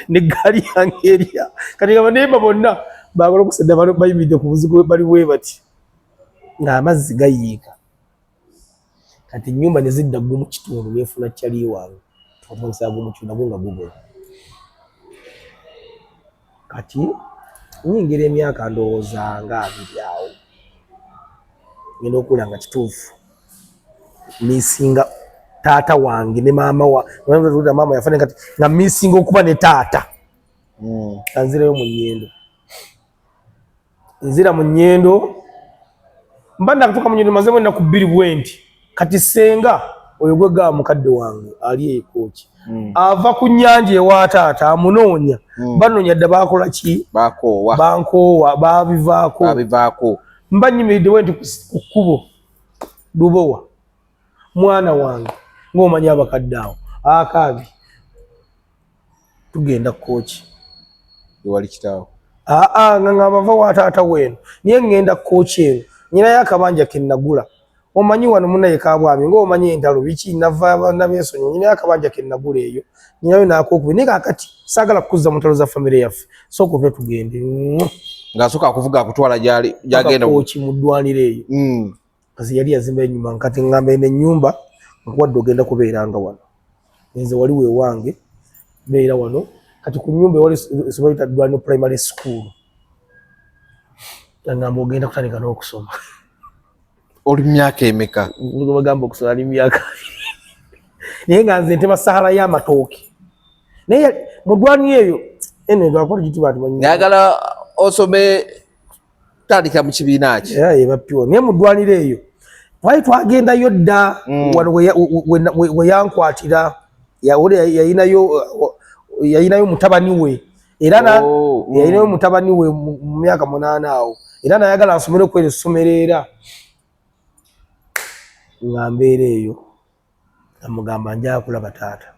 ne ggaali yange erya kati nga baneeba bonna baagala okusadda bayimiridde ku buzigo bali bwe bati ng'amazzi gayiika kati enyumba nezidda gwe mukitundu nefuna kyali wange twatandisa gwe mukitundu nagwo nga gugola kati nyingira emyaka ndowooza nga abiri awo ngenda okula nga kituufu misinga taata wange ne maama wa maama yafana kati nga misinga okuba ne taata hmm. kanzireyo mu nyendo nzira mu nyendo mba nakutuka mu nyendo mazemu na kubiri bwenti kati senga oyo gwe ga mukadde wange ali ekoki mm. ava ku nyanja ewa taata amunonya mm. banonya dda bakola ki bakowa bankowa babivako babivako mba nyimide wenti kukubo dubowa mwana wange ngomanya abakadde awo akabi tugenda kooki ewali kitaawo aa nga nga bava wa taata weeno naye ŋŋenda kooki eno nyinayo akabanja ke nnagula omanyi wano munaye kabwami ng'omanyi entalo biki nava abaana b'ensonyi nyinayo akabanja ke nnagula eyo nyinayo n'akokubi naye kakati saagala kukuzza mu ntalo za famire yaffe sooka ove tugende ng'asooka akuvuga akutwala gyali gyagenda kooki mu ddwaniro eyo mm. nze yali yazimba enyuma nkati ngamba eno enyumba nkuwadde ogenda kubeeranga wano nze wali wewange beera wano kati ku nyumba ewali esomero lita dwalino primary school angamba ogenda kutandika n'okusoma oli myaka emeka bagamba okusoma ali myaka naye nga nze nteba sahara y'amatooke naye mudwani eyo eno edwakora gitibatimanyi nayagala osome kutandikira mu kibiina ki era ye bapiwo naye mu ddwaliro eyo twali twagendayo dda mm. wano we yankwatira yawole yayinayo yayinayo mutabani we era oh, mm. yayinayo mutabani we mu myaka munaana awo era nayagala nsomere okwera essomero era nga mbeera eyo amugamba nja kulaba taata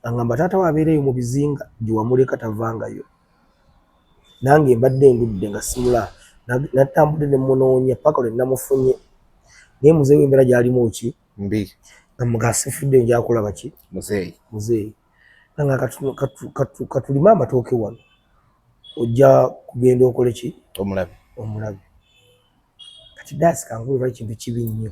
angamba taata we abeereyo mu bizinga gyewamuleka tavangayo nange mbadde ndudde nga simula natambudde ne munoonya paka lwe namufunye naye muzeeyi wembeera gyalimu ki mbi amugasifudde nja kulaba ki muzeeyi muzeeyi nanga katulime amatooke wano ojja kugenda okole ki omulabe omulabe kati daasi kankulu lwa kintu kibi nnyo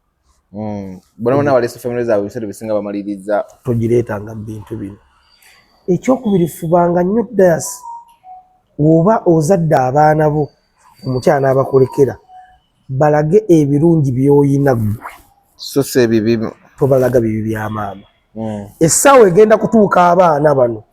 mm. bona bona baleese famire zaabwe ebiseera bisinga bamaliriza togireetanga mu bintu bino ekyokubiri fubanga nnyo dayasi woba ozadde abaana bo omukyana abakolekera balage ebirungi byoyina gwe sosa ebibi tobalaga bibi bya maama mm. essaawa egenda kutuuka abaana bano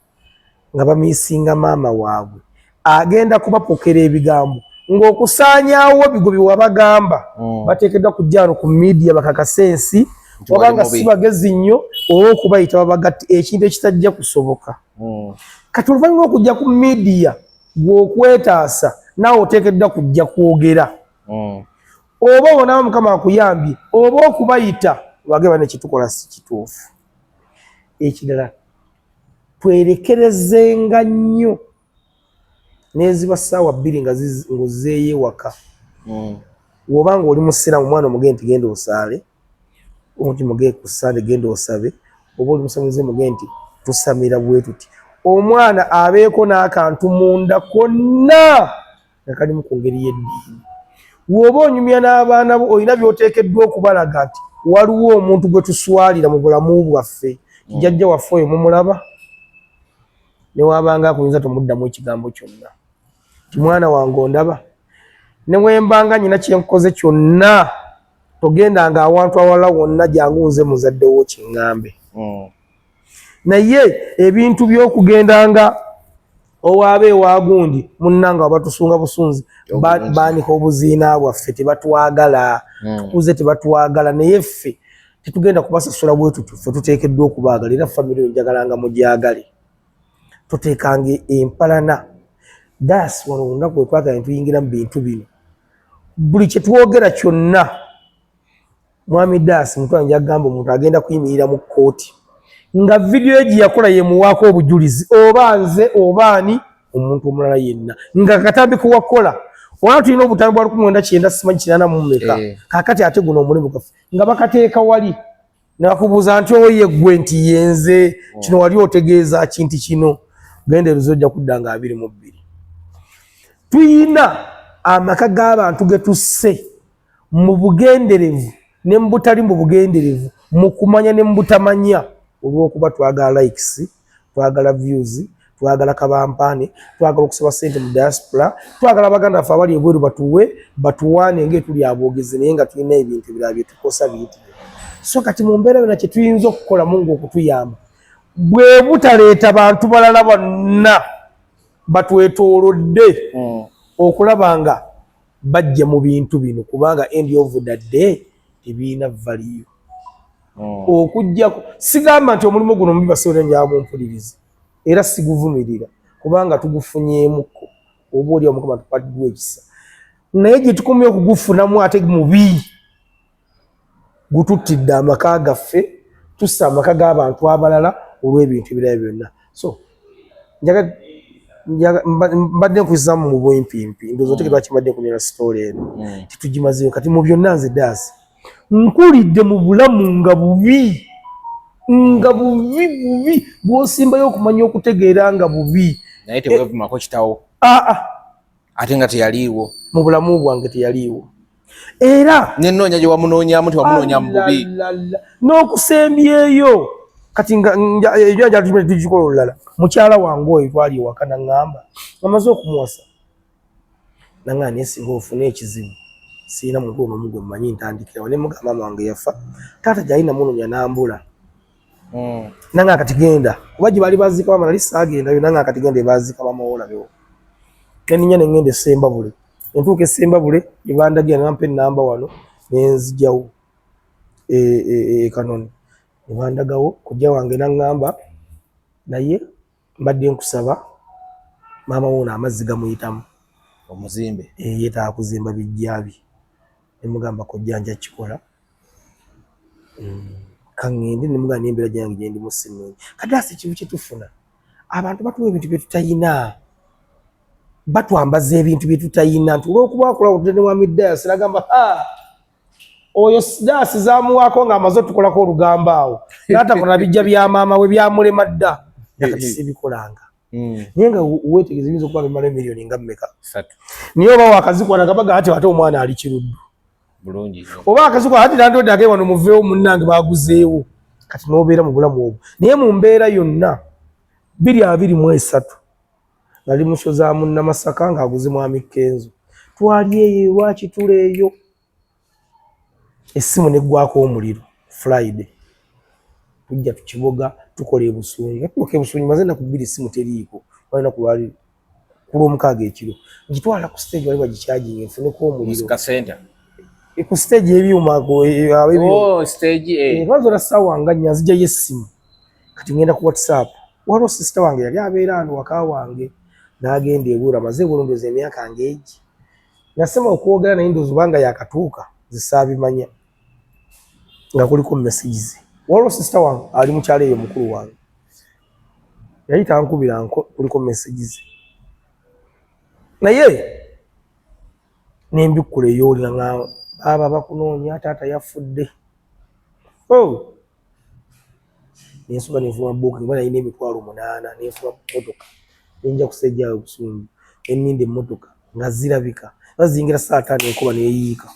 nga bamisinga maama waabwe agenda kubapokera ebigambo ng'okusaanyaawo bigo bye wabagamba mm. bateekeddwa ku jjaano ku midiya bakakase ensi obanga si bagezi nnyo oba okubayita babagatti ekintu ekitajja kusoboka mm. kati oluvannyuma okujja ku midiya gweokwetaasa naawe oteekeddwa kujja kwogera mm. oba obonawo mukama akuyambye oba okubayita wageba nekitukola si kituufu ekirala twerekerezenga nnyo neziba saawa bbiri nga ozeeyo ewaka hmm. woba nga oli musiraamu omwana omugee nti genda osaale omuti mugee ku sande genda osabe oba oli musamize mugee nti tusamira bwetuti omwana abeeko n'akantu munda konna nga kalimu ku ngeri y'eddiini. W'oba onyumya n'abaana bo olina by'oteekeddwa okubalaga nti waliwo omuntu gwe tuswalira mu bulamu bwaffe nti mm. jajja waffe oyo mumulaba ne waabanga akuyinza tomuddamu ekigambo kyonna nti mwana wange ondaba ne wembanga nyina kye nkoze kyonna togendanga awantu awala wonna jangu nze muzadde wo kiŋŋambe mm. naye ebintu byokugenda nga owaaba ewagundi munanga wabatusunga busunzi banika obuziina bwaffe tebatwagala hmm. tukuze tebatwagala naye ffe tetugenda kubasasula bwetutu fe tutekeddwa okubaagala era famiry enjagala nga mugyagale tutekanga empalana das wano olunaku wetwagala netuyingira mu bintu bino buli kyetwogera kyonna Mwami Das mutwa nja gamba omuntu agenda kuyimirira mu kkooti nga vidiyo gye yakola yemuwaako obujulizi oba nze oba ani omuntu omulala yenna nga katambi kuwakola olaba tulina obutambi bwa lukumi wenda kyenda simanyi kinana mumeka eh. kakati ate guno omulimu gaffe nga bakateeka wali nakubuuza nti oye gwe nti yenze oh. kino wali otegeeza kinti kino genda eruzi ojja kudda nga abiri mu bbiri tuyina amaka g'abantu getusse mu bugenderevu ne mu butali mu bugenderevu, mu kumanya ne mu butamanya, olw'okuba twagala likes, twagala views, twagala kabampaane, twagala okusaba ssente mu diaspora, twagala baganda baffe abali ebweru batuwe batuwaane ng'etuli aboogezi naye nga tulina ebintu ebirala bye tukosa bintu bye. So kati mu mbeera yona kye tuyinza okukolamu ng'okutuyamba bwe butaleeta bantu balala bonna batwetoolodde hmm. okulaba nga bajja mu bintu bino kubanga end of the day tebirina valiyo hmm. okujjako sigamba nti omulimu guno mubi basobola njaa mumpulirizi era siguvumirira kubanga tugufunyemuko oba oli omukama tukwatidwa ekisa naye gyetukomye okugufunamu ate mubi gututtidde amaka gaffe tussa amaka g'abantu abalala olw'ebintu ebirala byonna so mbadde nkuzamu mu bwempimpi ndoza otegera lwaki mbadde nkunena sitoola eno hmm. titugimazeyo kati mu byonna nze daasi nkulidde mu bulamu nga bubi nga bubi bubi bwosimbayo okumanya okutegeera nga bubi naye tewevumako kitawo aa ah, ah. ate nga teyaliiwo mu bulamu bwange teyaliiwo era nenoonya gye wamunoonyamu tewamunoonya mu bubi n'okusembyeyo kati njajatigikola olulala mukyala wange oyo twali ewaka naŋŋamba amaze okumuwasa naŋaa naye singa ofuna ekizibu sirina muntu onomu gwe mmanyi ntandikirawo ne mugamba wange yafa taata gyali namunoonya nambula mm. nanga kati genda kuba gye bali bazika wamala lisi agenda yo nanga kati genda ebazika bamawola bewo neninya ne ngenda esemba bule entuuka esemba bule ebandagira nampa enamba wano nenzijawo e, e, e, ekanoni nebandagawo kujja wange nangamba naye mbadde nkusaba maama wuuno amazzi gamuyitamu omuzimbe eh, yetaaga kuzimba bijjabi nemugamba kojja nja kikola mm. kaŋŋende nemugamba nembeera gyange gyendimu sinungi kadaasi ekintu kyetufuna abantu batuwa ebintu byetutayina batwambaza ebintu byetutayina nti olwokuba akolawo tene wamidaya siragamba oyo daasi zamuwaako nga amaze otukolako olugambo awo natakola bijja bya maama we byamulema dda nakatisibikolanga hmm. naye nga wetegeza yinza okuba bimala emiliyoni nga mumeka naye oba wakazikwana gabaga ati ate omwana ali kiruddu oba akazikwana ati nandode age wano muveewo munnange baguzeewo kati nobeera mu bulamu obwo naye mu mbeera yonna biri abiri mu esatu nali musoza mu namasaka nga aguze mwami kenzo twali eyo ewakitula eyo essimu neggwako omuliro friday tujja tukiboga tukola ebusungi natuuka ebusungi maze naku bbiri essimu teriiko walina kulwali kulwomukaaga ekiro ngitwala ku stage wali bagikyajinga enfuneko omuliro e, ku stage ebyuma abazola oh, eh. eh, sawa nga nyanzijayo essimu kati ngenda ku whatsapp waliwo sisita wange yali abeera ano waka wange n'agenda ebuura maze ebulundoza emyaka ng'egi nasema okwogera naye ndoozi obanga yakatuuka zisaabimanya nga kuliko message ze waliwo sisita wange ali mukyalo eyo mukulu wange yali tankubira nko kuliko message ze naye nembikkula eyoolira nga baaba bakunoonya taata yafudde oh. nensoba nenfuma booking oba nalina emitwalo munaana nenfuma motoka nenja kusejjaayo obusungu enninda emmotoka nga zirabika oba ziyingira saa taano enkuba neyiika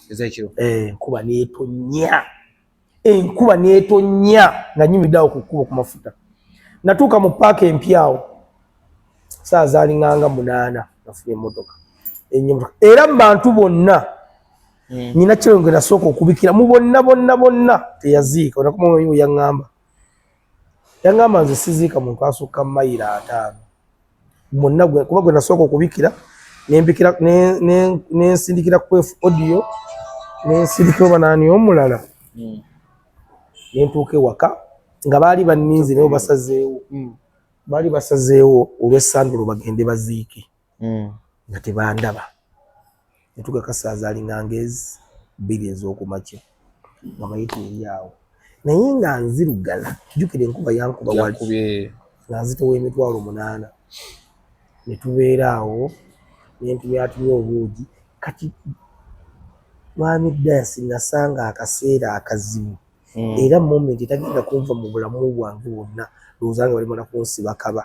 eh, enkuba netonnya enkuba netonnya nga nyumidde awo ku kkubo ku mafuta natuuka mu paaka empyawo saa zaalinganga munaana nafuna emmotoka era mu bantu bonna mm. nyina kyeyo ngenda sooka okubikira mu bonna bonna bonna teyaziika onakumwe yangamba yangamba nze siziika muntu asukka mayiro ataano mwonna kuba gwe nasooka okubikira nembikira nensindikira kwefu audio nensindikira oba naani omulala mm. nentuuka ewaka nga baali banninzi naye basazeewo mm. baali basazeewo olw'essandulo bagende baziike mm. nga tebandaba netuga kasaaza alinga ngezi bbiri ez'okumakya nga mayita eri awo naye nga nzirugala jukira enkuba yankuba wali nga nzitowa emitwalo munaana netubeera awo nentumyatumya obuugi kati mwami dasi nasanga akaseera akazibu mm. era moment etagenda kunva mu bulamu bwange bwonna lowoozanga balimala kunsiba kaba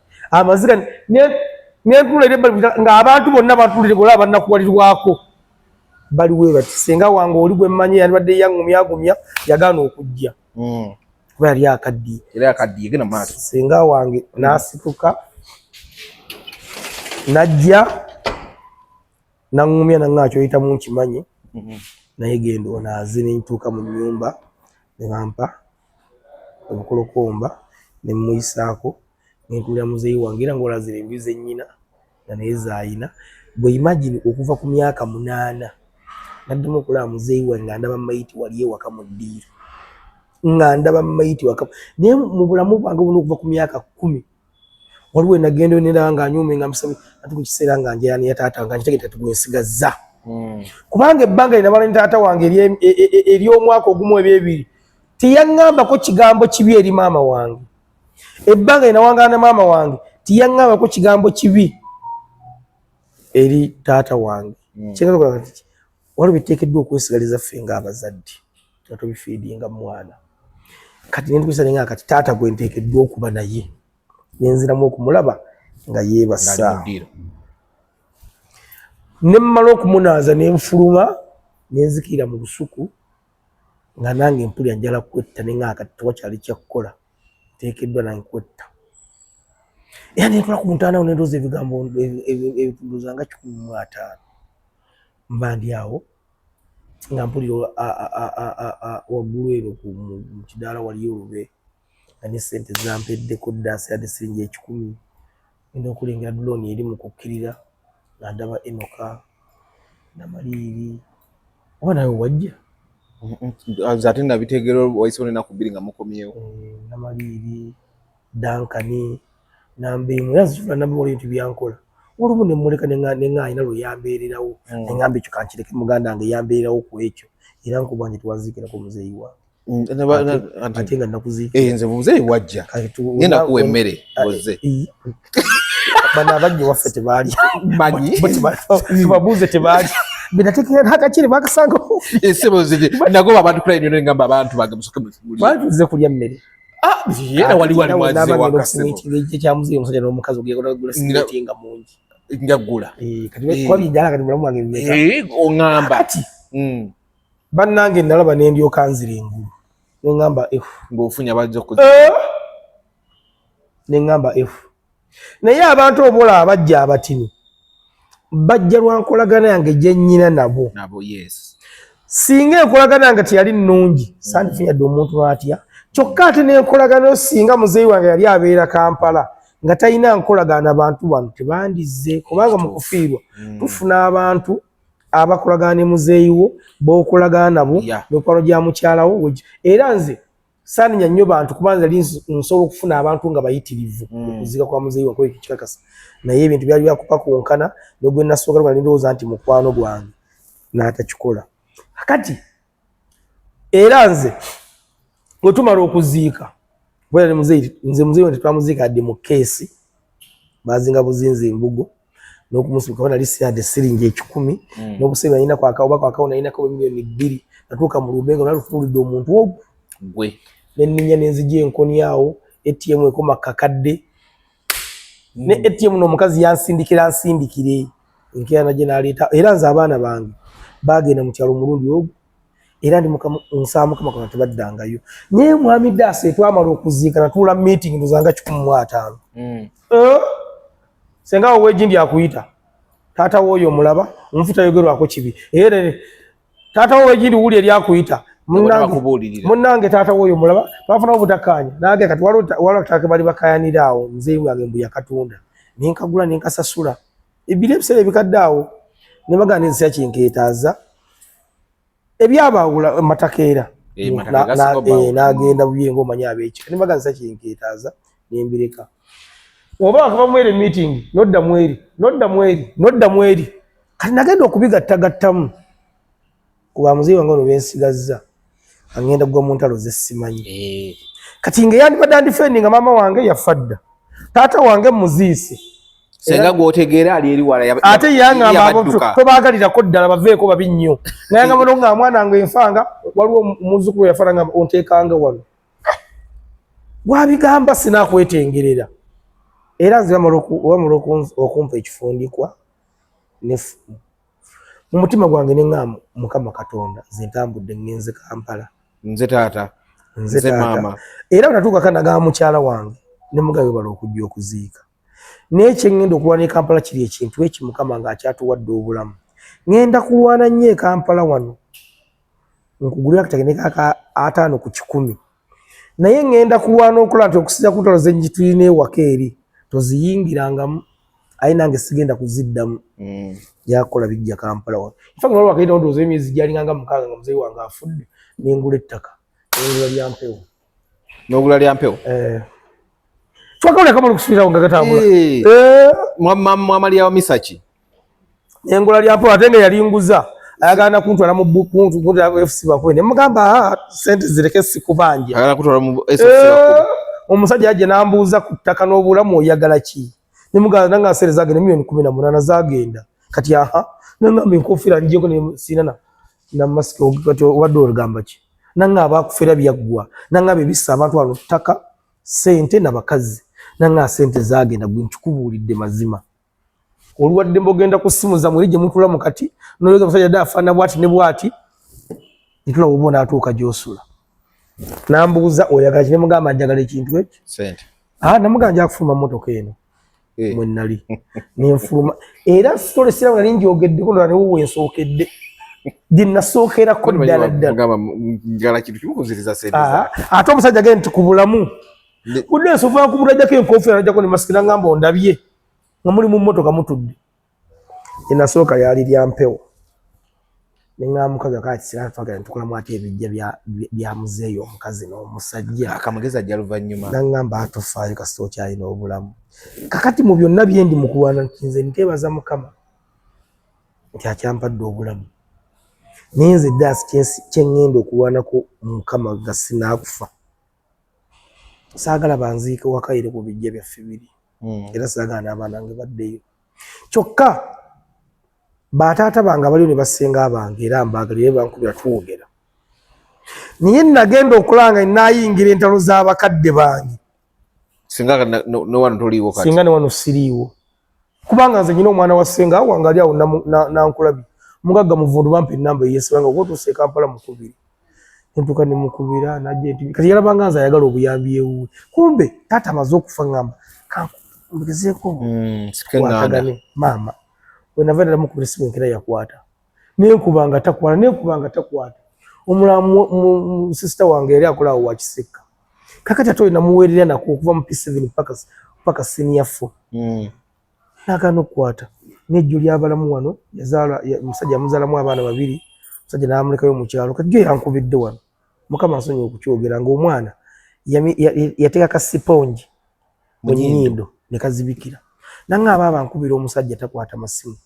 amaziga nentunula eri ebbali nga abantu bonna bantulire bola abanakuwalirwako bali webati senga wange oli gwe mmanyi yandibadde yangumya agumya yagaana okujja hmm. kuba yali akaddiye era akaddiye gena maaso senga wange nasituka najja nangumya nanga kyoyitamu nkimanyi hmm. naye genda onaaze nentuuka mu nyumba nebampa obukolokomba ne mmuyisaako ne ntuulira muzeeyi wange era ng'olaba zino enju ze nnyina nga naye z'alina. Ggwe imagine okuva ku myaka munaana naddamu okulaba muzeeyi wange nga ndaba mayiti wali ewaka mu ddiiro nga ndaba mayiti waka naye mu bulamu bwange buno okuva ku myaka kkumi waliwo enagenda onera nga anyume nga musabi ati ku kiseera nga njera ne yataata nga nkitegeta tugwesigazza hmm. kubanga ebbanga lina bala ne taata wange ery'omwaka e, e, e, ogumu ebyebiri teyaŋŋambako kigambo kibi eri maama wange ebbanga lina wangana ne maama wange teyaŋŋambako kigambo kibi eri taata wange hmm. kyengaza okulaba nti waliwo biteekeddwa okwesigaliza ffe ng'abazadde tuba tubifiidinga mu mwana kati nentukisa nenga kati taata gwe nteekeddwa okuba naye nenziramu okumulaba nga yeebasa ne mmala okumunaaza ne nfuluma ne nzikirira mu lusuku nga nange mpulira njala kwetta ne ng'aka tewakyali kyakukola nteekeddwa nange kwetta era ne ntula ku ntaanawo ne ndooza ebigambo ebitunduza nga kikumi mu ataano mba ndi awo nga mpulira waggulu eno ku kidaala waliyo olube nga ne ssente zampeddeko dda sirade siringi ekikumi enda okulengera dulooni eri mu kukkirira nga ndaba enoka namaliiri oba nawe wajja ate nabitegeera waisewo nenaku bbiri nga mukomyewo eh, namaliiri dankani Nambi mwe zula nambi wali nti byankola. Olumu ne muleka ne nga ne nga ina lo yambeererawo. Mm. Ne ngambi kikankireke muganda nge yambeererawo ku ekyo. Era nkubanje twazikira ku muzeyi wa. Mm, ate nga nakuzi eh, nze muzeyi wajja ngenda kuwa emmere oze eh, bana abajja waffe tebaali manyi tubabuuze tebaali binategeera hakakiri bakasanga esebo eh, ziri nagoba abantu kula enyo nengamba abantu bange musoke mulize kulya mmere Ah, era wali wali mwaze wakasema ekyamuzi omusajja n'omukazi ogenda kugula simenti nga mungi nga gula eh, kati eh. kwa bijala kati mulamu wange mmeka eh ongamba kati mm bannange nalaba ne ndyoka nzira engulu ne ngamba f ng'ofunya bajja kuza eh! ne ngamba f naye abantu obola abajja abatini bajja lwa nkolagana yange gye nnyina nabo singa enkolagana yange teyali nnungi sandifunyadde omuntu n'atya kyokka ate n'enkolagana yo singa muzeeyi wange yali abeera kampala nga talina nkolagana bantu bano tebandizze kubanga mu kufiirwa mm. tufuna abantu abakolagana ne muzeeyi wo b'okolagana nabo mikwano gya mukyalawo era nze saaninya nnyo bantu kuba nze li nsobola okufuna abantu nga bayitirivu hmm. okuziika kwa muzeeyi wakoyo kikikakasa naye ebintu byali byakupakunkana nogwe nasooka lwa nindowooza nti mukwano gwange n'atakikola kati era nze bwe tumala okuziika kubera ne muzeeyi nze muzeeyi tetwamuziika adde mu keesi bazinga buzinzi embugo n'okumusibuka bona lisiade siringi ekikumi hmm. n'obusiba yina kwaka oba kwaka ona yina kwa milioni bbiri natuuka mu lumbe nga nalufunulidde omuntu ogwo gwe nenninya nenzija enkoni awo ATM ekoma kakadde ne hmm. ATM n'omukazi yansindikira nsindikire enkeera naje naleeta era nze abaana bange bagenda mu kyalo omulundi ogwo era ndi mukama nsaba mukama kona tebaddangayo naye mwami daasa etwamala okuziika natuula meeting ndozanga kikumu mu ataano mm. eh? senga oweji ndi akuyita taata wooyo omulaba omufu tayogerwako kibi era taata woweji ndi wuli eri akuyita munnange taata wooyo omulaba twafuna obutakkaanya nange kati waliwo tutake bali bakayanira awo nzeyungange mbu yakatunda nenkagula nenkasasula ebiri ebiseera ebikadde awo ne bagana ensi yakinkeetaaza ebyabaawula matakeera eh, eh, n'agenda buye ngaomanyi abeekika ne bagana ensi yakinkeetaaza ne mbireka oba wakava mweri meeting nodda mweri nodda mweri nodda mweri kati nagenda okubigattagattamu kuba muzeeyi wange ono bensigazza angenda gwa mu ntalo ze simanyi eh. kati nga eyandibadde andifendi nga maama wange yafa dda taata wange muziise senga gwotegeera ali eri wala ate yangamba abantu tobaagalirako ddala baveeko babi nnyo nayangamba no nga mwana nga enfanga waliwo muzukulu yafana nga onteekanga wano gwabigamba sinakwetengerera era nze wamala okumpa ekifundikwa nefumu mu mutima gwange ne ŋŋamba mukama katonda nze ntambudde ŋŋenze kampala nze taata nze maama era natuukako nagamba mukyala wange ne mugabe bala okujja okuziika naye kyeŋŋenda okulwana e kampala kiri ekintu eki mukama ng'akyatuwadde obulamu ŋŋenda kulwana nnyo e kampala wano nkugulira kategene kaka ataano ku kikumi naye ŋŋenda kulwana okulaba nti okusinza ku ntalo ze ngitulina ewaka eri toziyingirangamu aye nange sigenda kuziddamu mm. yakola bijja kampala wa nfa nga waliwo akaita ndowooza emyezi gyalinganga mukaaga nga muzeeyi wange afudde nengula ettaka nengula lya mpewo nogula lya mpewo eh. twakawulira kamala okusubirawo nga gatambula eh. eh. mwamaliyawo misaki engola lya mpola ate nga yali nguza ayagala nakuntwala mu bukuntu kuntwala mu fc bakuwe ne mugamba ah, sente zireke sikubanja ayagala kutwala mu fc bakuwe eh, omusajja yaje nambuuza ku ttaka n'obulamu oyagala ki ne mugamba nanga asere zagenda milioni kumi na munana zagenda kati aha nangamba enkofira njeko ne sinana na mask kati obadde olugamba ki nanga abakufera byaggwa nanga bebisa abantu alo ttaka sente na bakazi nanga sente zagenda gwe nkikubuulidde mazima olwadde mbogenda ku simu zamwe lije mutula mukati noyoza musajja da afana bwati ne bwati itula ubona atuka josula nambuza oyagala kine mugamba njagala ekintu ekyo sente ah namuganja kufuma moto keno eh. mwe nali ne mfuma era story sira ngali njogedde ko nali uwe nsokedde dinna sokera ko dala dala mugamba njagala kintu kimukunziriza sente ah ato musajja genti kubulamu kudde sofa kubulajja ke nkofera najja ko ne maskira ngamba ondabye nga muli mu mmotoka mutudde enasooka lyali lya mpewo ne ŋaamukaga kati sira twagala ntukolamu ati ebijja bya muzeeyi omukazi n'omusajja akamugezi ajja luvannyuma naŋŋamba atofaayo kasita okyalina obulamu kakati mu byonna bye ndi mu kulwana nti nze nteebaza mukama nti akyampadde obulamu naye nze daasi kye ŋŋenda okulwanako mukama nga sinaakufa saagala banziike wakayire ku bijja byaffe biri hmm. era saagala n'abaana nge baddeyo kyokka bataata bange abaliyo ne basinga abange era mbaagalire bankubira twogera naye nagenda okulanga nayingira entalo z'abakadde bange singa newano toliiwo singa newano siriiwo kubanga nze nyina omwana wa senga wange ali awo nankulabi mugagga muvundu bampa enamba eyesibanga okutuusa e kampala mukubiri entuka ne mukubira najja enti kati yalabanga nze ayagala obuyambi ewuwe kumbe taata amaze okufa ngamba kankugezeeko mm, watagane maama wenava ddala mukubira simu enkera yakwata nenkuba nga takwata nenkuba nga takwata omulala musisita wange yali akola awo wakisekka kakati ate olina muweerera nako okuva mu p7 paka paka senior four mm. nagana okukwata nejjo lyabalamu wano yazaala omusajja yamuzaalamu abaana babiri omusajja namulekayo mukyalo kati jo yankubidde wano mukama asonyi okukyogera ngaomwana yateeka ka sipongi mu nyindo ne kazibikira nange aba abankubira omusajja takwata masimu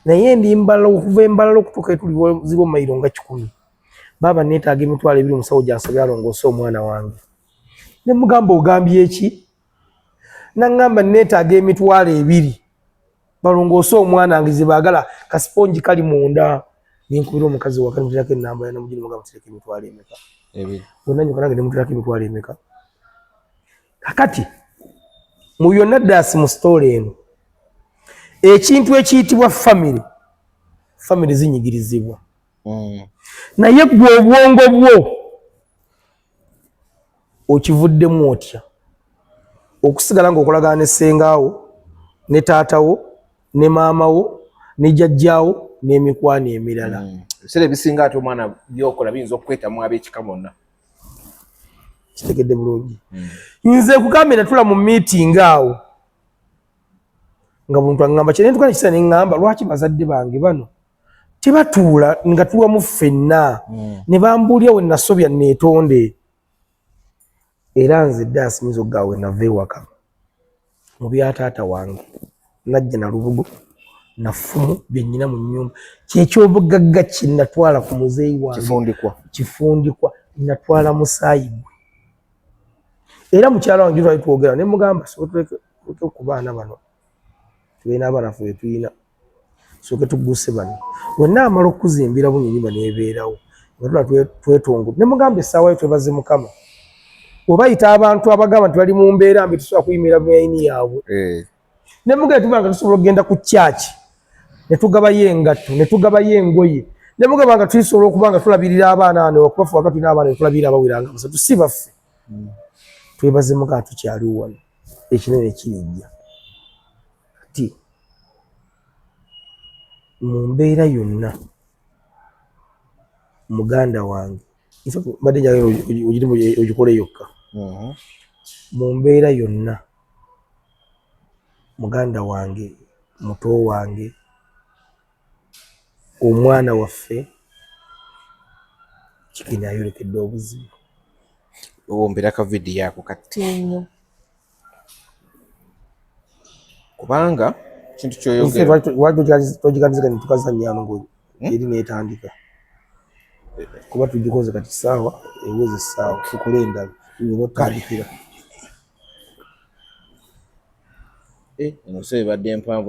naye ndi mbala okuva embalala okutuuka etuli ziba omayiro nga kikumi baaba neetaaga emitwalo ebiri omusawo gyansabye alongoose omwana wange ne mugamba ogambye eki nangamba neetaaga emitwalo ebiri balongoose omwana wange ze baagala kasiponji kali munda nenkubira omukazi wakaniterako enamba yanamugini mugamba tireka emitwalo emeka onanyuka nange nemutirako emitwalo emeka kakati mu byonna daasi mu sitoola eno ekintu ekiyitibwa famire famire zinyigirizibwa mm. naye gwe obwongo bwo okivuddemu otya okusigala ngaokolagana ne sengaawo ne taatawo ne maamawo ne jajjaawo n'emikwano emirala mm. ebiseera ebisinga ate omwana byokola biyinza okukwetamu ab'ekika bonna kitegedde bulungi hmm. nze kugambye natula mu meeting awo nga muntu aŋamba kye nentukana kisa neŋamba lwaki bazadde bange bano tebatuula nga tuwamu ffenna hmm. ne bambuulya we nasobya neetonde era nze dde asinyiza okugawe nava ewaka mu bya taata wange najja na lubugo nafumu byenyina mu nyumba kyekyobugagga kinatwala ku muzeeyi wange kifundikwa natwala musaayi gwe era mukyala wange twali twogera ne mugamba sotulekeku baana bano tulina abaana fe betulina soke tugguse bano wenna amala okukuzimbira bunyinima nebeerawo nga tula twetongo ne mugamba essaawa yo twebaze mukama obayita abantu abagamba nti bali mu mbeera mbi tusobola kuyimira buyini yaabwe eh. ne mugamba tuba nga tusobola okugenda ku kyaki ne tugabayo engatto ne tugabayo engoye ne mugamba nga tuyisobola okuba nga tulabirira abaana ano okubafu wakati n'abaana ne tulabirira abawiranga basatu si baffe hmm. twebaze mukama tukyaliwo wano ekinene kirijja Kati mu mbeera yonna muganda wange mbadde njagala ogirimu ogikole yokka mm-hmm. mu mbeera yonna muganda wange muto wange omwana waffe kikini ayolekedde obuzibu owombera ka vidiyo ako kati nnyo kubanga kintu kyoyogerwakitogikatiza kati tukazanyano ngo hmm? eri netandika kuba tugikoze kati saawa eweza esaawa tukole endala notandikira eh, nose ebadde empanvu